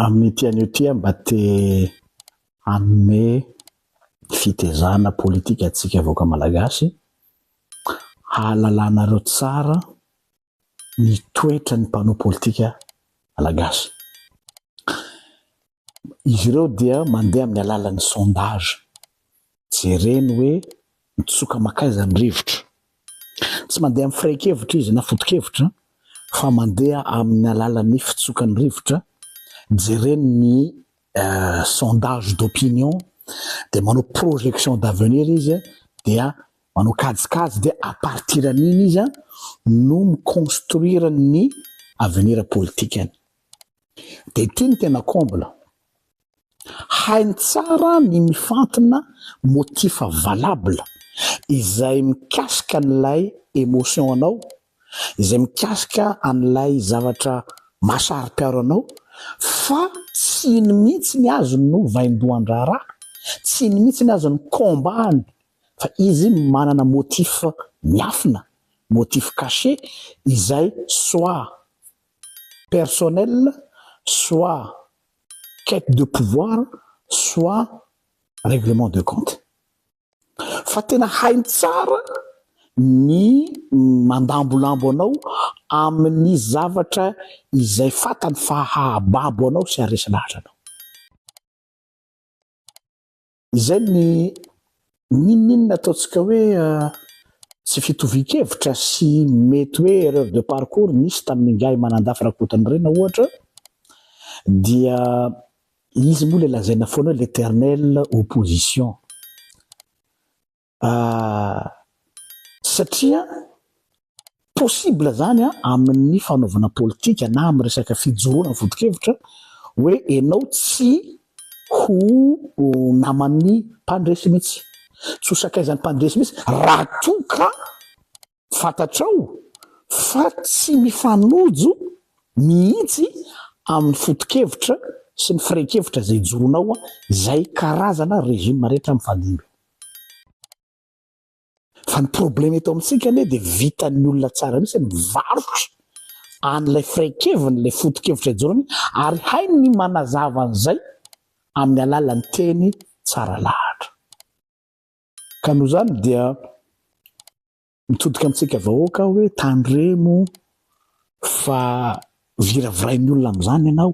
Amin'ity anio ity aho mba te hanome fitezana politika antsika vahoaka malagasy hahalalanareo tsara ny toetra ny mpanao politika malagasy. Izy ireo dia mandeha amin'ny alalan'ny sondage. Jereny hoe mitsoka makaiza ny rivotra. Tsy mandeha amin'ny firaikevitra izy na foto-kevitra fa mandeha amin'ny alalan'ny fitsokan'ny rivotra. Jereny ny sondage d'opinion dia manao projection d'avenir izy dia manao kajikajy dia à partir an'iny izy no mi-construire ny avenir politikany. Dia ity ny tena comble, Hainy tsara ny mifantina, motif valable, izay mikasika an'ilay emotion anao, izay mikasika an'ilay zavatra maha-saro-piaro anao fa tsy iny mihitsy ny azy no vaindohan-draharaha, tsy iny mihitsy ny azy no combat-ny fa izy manana motif miafina, motif caché, izay soit personnel, soit quête de pouvoir soit règlement de compte fa tena hainy tsara ny mandambolambo anao amin'ny zavatra izay fatany fa hahababo anao sy haresy lahatra anao. Izay ny n'inon'inona ataontsika hoe tsy fitovian-kevitra sy mety hoe erreur de parcours nisy tamin'ingahy Manandafy Rakotonirina ohatra dia izy moa ilay lazaina foana hoe l'éternelle opposition. Ah, satria possible zany an, amin'ny fanaovana politika na amin'ny resaka fijoroana vodikevitra hoe enao tsy ho naman'ny mpandresy mihitsy, tsy ho sakaizan'ny mpandresy mihitsy raha toa ka Fantatrao fa tsy mifanojo mihitsy amin'ny fotokevitra sy ny firehin-kevitra izay joronao izay karazana régime rehetra mifandimby. Fa ny problème eto amintsika anie dia vitan'ny olona tsara mihitsy ny mivarotra an'ilay firehin-keviny, ilay fotokevitra ijoroany ary hainy ny manazava an'izay amin'ny alalan'ny teny tsara lahatra. Ka noho izany dia mitodika amintsika vahoaka aho hoe tandremo fa viravirain'ny olona amin'izany ianao.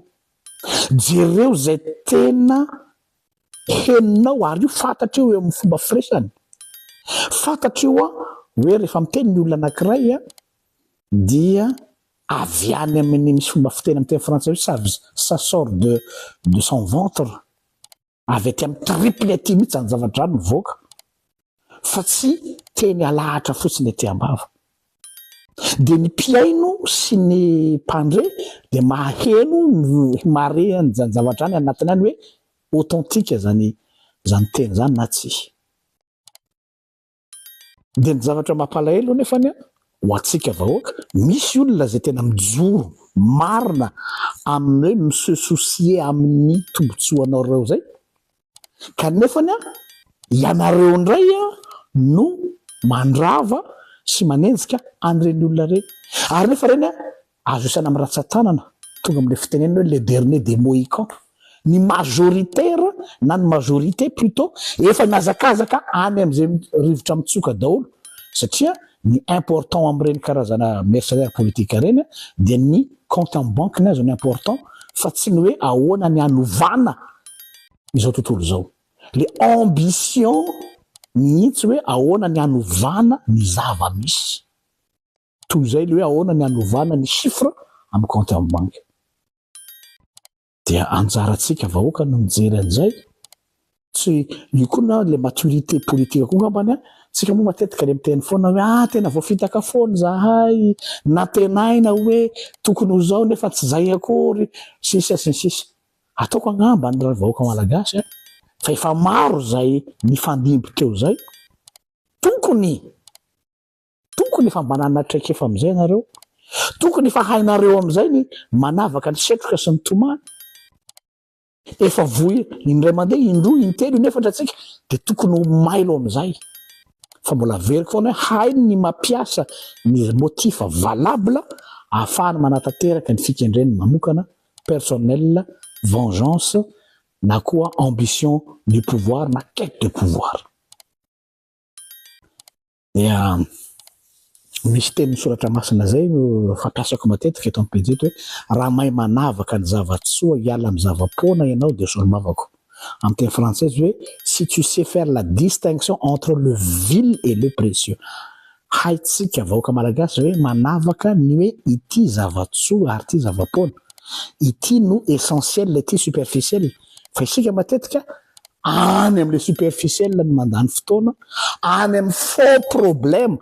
Jereo izay tena henonao ary io fantatreo eo amin'ny fomba firesany. Fantatreo hoe rehefa miteny ny olona anankiray dia avy any amin'ny misy fomba fiteny amin'ny teny frantsay hoe ça, ça sort de, de son ventre. avy aty amin'ny triple aty mihitsy zany zava-drano mivoaka fa tsy teny alahatra fotsiny aty ambava dia ny mpihaino sy ny mpandre dia maheno ny mareany zany zava-drano anatiny any hoe authentique zany zany teny zany na tsy Dia ny zavatra mampalahelo anefa ny ho antsika vahoaka, misy olona izay tena mijoro marina amin'ny hoe mi-se soucier amin'ny tombotsoanareo izay, kanefa ny ianareo indray no mandrava sy manenjika an'ireny olona ireny. Ary nefa ireny Azo isaina amin'ny ratsan-tanana tonga amin'ilay fitenenana hoe le dernier des mohicans. Ny majoritaire na ny majorité plutôt efa mihazakazaka any amin'izay rivotra mitsoka daholo satria ny important amin'ireny karazana mercenaires politiques ireny dia ny compte en banque-ny azy no important fa tsy ny hoe ahoana ny hanovana izao tontolo izao. Le ambition mihitsy hoe ahoana ny hanovana ny zava-misy. Toy izay ilay hoe ahoana ny hanovana ny chiffre amin'ny compte en banque. Dia anjarantsika vahoaka no mijery an'izay. Tsy, io koa na ilay maturité politique koa angambany an, tsika moa matetika dia miteny foana hoe ah tena voafitaka foana izahay, nantenaina hoe tokony ho izao nefa tsy izay akory, sisa sy ny sisa. Ataoko angamba ny ry vahoaka malagasy an, fa efa maro izay nifandimby teo izay, tokony. Tokony efa manana traikefa amin'izay ianareo, tokony efa hainareo amin'izay ny manavaka ny setroka sy ny tomany. Efa voa indray mandeha, indroa, intelo, inefatra tsika dia tokony ho mailo amin'izay. Fa mbola averiko foana hoe hainy ny mampiasa ny motif valable ahafahany manatanteraka ny fikendreny manokana, personnel, vengeance na koa ambition du pouvoir na quête de pouvoir. dia misy tenin'ny soratra masina izay no fampiasako matetika eto amin'ny pejy eto hoe raha mahay manavaka ny zava-tsoa hiala amin'ny zava-poana ianao dia solombavako. Amin'ny teny frantsay izy hoe si tu sais faire la distinction entre le vil et le précieux. Haintsika vahoaka malagasy ve manavaka ny hoe ity zava-tsoa ary ity zava-poana, ity no essentiel ity superficiel fa isika matetika any amin'ilay superficiel no mandany fotoana, any amin'ny fond problème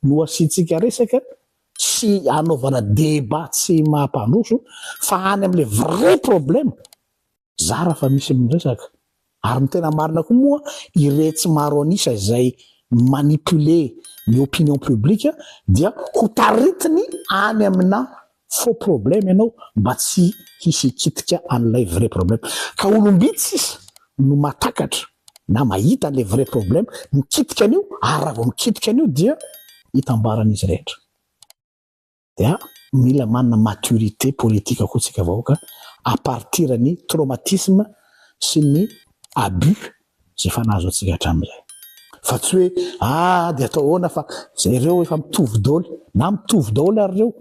no asiantsika resaka sy anaovana débat tsy mampandroso fa any amin'ilay vrai problème zara fa misy miresaka ary ny tena marina koa moa iretsy maro an'isa izay manipuler ny opinion publique dia ho taritiny any amina Faux problème ianao mba tsy hisy hikitika an'ilay vrai problème. Ka olom-bitsy sisa no mahatakatra na mahita an'ilay vrai problème, mikitika an'io ary raha vao mikitika an'io dia itambarany izy rehetra. Dia mila manana maturité politique koa tsika vahoaka à partir ny traumatisme sy ny abus izay efa nahazo antsika hatramin'izay. Fa tsy hoe ah dia atao ahoana fa izay ireo efa mitovy daholo, na mitovy daholo ary ireo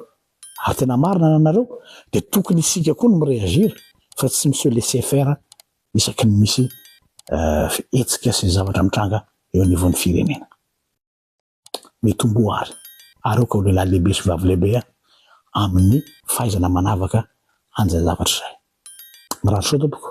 ary tena marina ny anareo dia tokony isika koa no mi-reagir fa tsy mi-se laisser faire isaky ny misy hetsika sy zavatra mitranga eo anivon'ny firenena. Mitomboa ary areoka ho lehilahy lehibe sy vavy lehibe amin'ny fahaizana manavaka an'izay zavatra izay. Mirary soa tompoko.